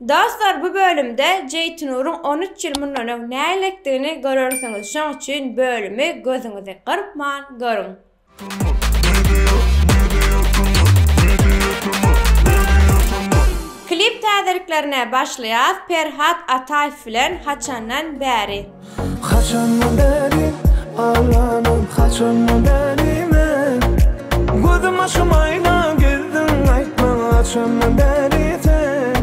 Dostlar bu bölümde Jeýtinuryň on üç ýyl mundan öň näleetdigini görersiňiz şoň üçin bölümi gözüňizi gyrpman görüň. Klip täzeliklerine başlaýas Perhat Ataýew bilen Haçandan bäri. Haçandan bäri aglanym haçandan bäri men Gözüm aşym aýna girdiň aýtma haçandan bäri sen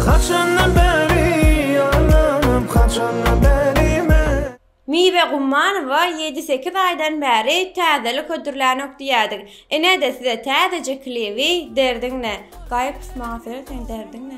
Haçandan bäri aglanym haçandan bäri men. Miwe Gummanowa ýedi sekiz aýdan bäri täzelik hödürlänok diýýädik inede size täzeje klibi Derdiňne gaýyp maňa söýe sen derdiňne.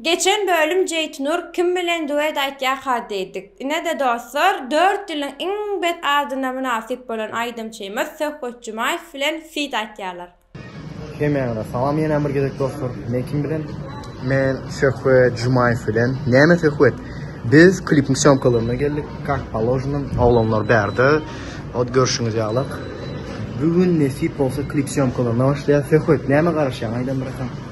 Geçen bölüm Jeýtnur kim bilen duet aýtýarka diýdik. Ine-de dostlar, dört ýylyň iň bet adyna mynasyp bolan aýdymçymyz Söhbet Jumaýew bilen feat aýtýarlar. Hemmäňize salam ýene bir gezek dostlar. Men kim bilen? Men Söhbet Jumaýew bilen. Näme Söhbet? Biz klipiň sýomkalaryna geldik. Kak položno, oglanlar bärde. Ot görşüňiz ýalyk. Bu gün nesip bolsa klip sýomkalaryna başlaýar. Söhbet, näme garaşýaň aýdan biratam.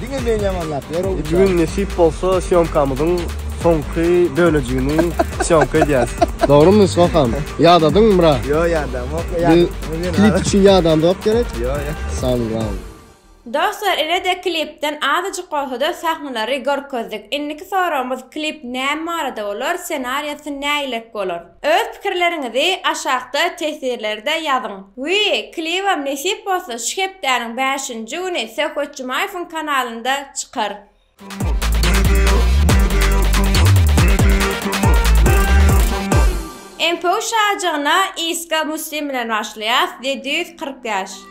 Diňe men ýamanlap ýörün. Bu gün nesip bolsa syomkamyzyň soňky bölejigini syomka edýäs. Dogrymy Sokam? Ýadadyňmy bra? Ýok ýadamok. Biz klip üçin ýadamzok gerek. Ýok ýok. Sangram. Dostlar ilede klipden azajyk bolsada sahnalary görkezdik. Indiki soragymyz klip näme barada bolar, senariýasy näilik bolar? Öz pikirleriňizi aşakda tesirlerde ýazyň. We klibem nesip bolsa şu hepdäniň bäşinji güni Söhbet Jumaýewiň kanalynda çykar. MPU şajygyna Iska Muslim bilen başlaýas, ýedi ýüz kyrk ýaş.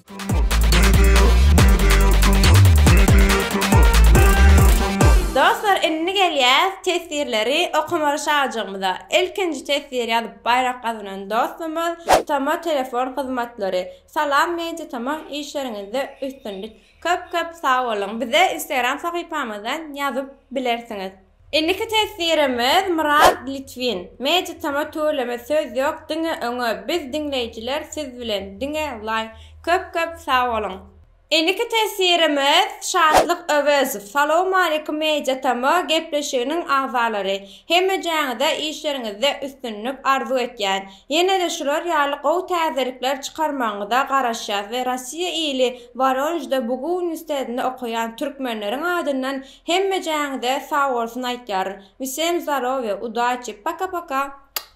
Dostlar indi gelýäs teswirleri okamaly şajygymyza. Ilkinji teswir ýazyp baýrak gazanan dostumyz Tama telefon hyzmatlary. Salam media tamam işleriňizde üstünlik. Köp köp sag boluň. Bize instagram sahypamyzdan ýazyp bilersiňiz. Indiki teswirimiz Myrat Litwin. Magic tama tüweleme söz ýok diňe öňe biz diňleýjiler siz bilen diňe laý köp köp sag boluň. Indiki teswirimiz Şatlyk Öwezow. Salowmaleýkum Media tama gepleşiginiň agzalary. Hemmejäňize işleriňizde üstünlik arzuw etýän. Ýenede şular ýaly gowy täzelikler çykarmagyňyza garaşýas we Rossiýa ili Woronejde Bugu uniwstetinde okaýan türkmenleriň adyndan Hemmejäňize sagbolsun aýtýar vsem zdarowie udaçi paka paka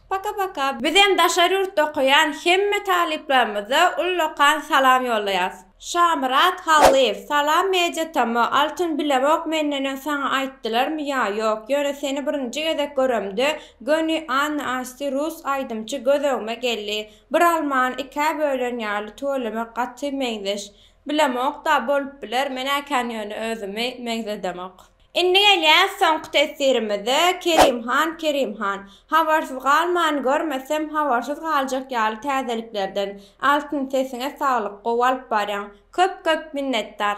paka paka. Bizem daşary ýurtda okaýan hemme talyplarymyza ullakan salam ýollaýas. Şamyrat Hallyýew Salam Media TM Altyn bilemok menden öň saňa aýtdylarmy ýa ýok ýöne seni birinji gezek göremde göni Anna Asti rus aýdymçy göz öňüme geldi bir almany ikä bölen ýaly tüweleme gaty meňzeş Bilemokda, bolup biler, men-ä kän ýöne özümi meňzedemok. Indi gelýäs soňky teswirimize, Kerim han, Kerim han. Habarsyz galman, görmesem, habarsyz galjak ýaly täzeliklerden. Altyn sesiňe saglyk, gowy alyp barýaň. Köp-köp minnetdar.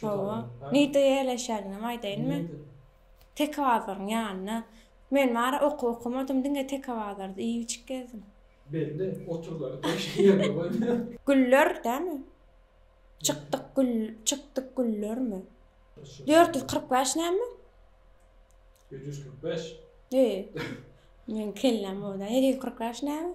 Hawa. Nirde ýerleşýändigimi aýdaýynmy? Tekebazaryň ýanynda. Men bary okuw okamadym, diňe Tekebazarda iýip-içip gezdim. Belli, oturgany başga ýerde goý. Güller dämi? Çykdyk gül, çykdyk güllermi? Dört ýüz kyrk bäş näme? Ýedi ýüz kyrk bäş? He. Meniň kelläm o-da. Ýedi ýüz kyrk bäş näme?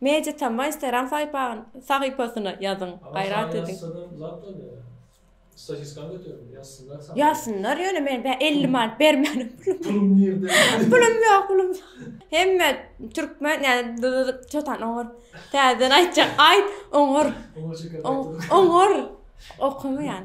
Media Tamwa Instagram sahypasyna ýazyň gaýrat ediň. Ýazsynlar ýöne men bä elli manat bermänem pulum ýok pulum hemme türkmen ýa-da çotan oňar täzeden aýtjak aýt oňar oňar okamaýan.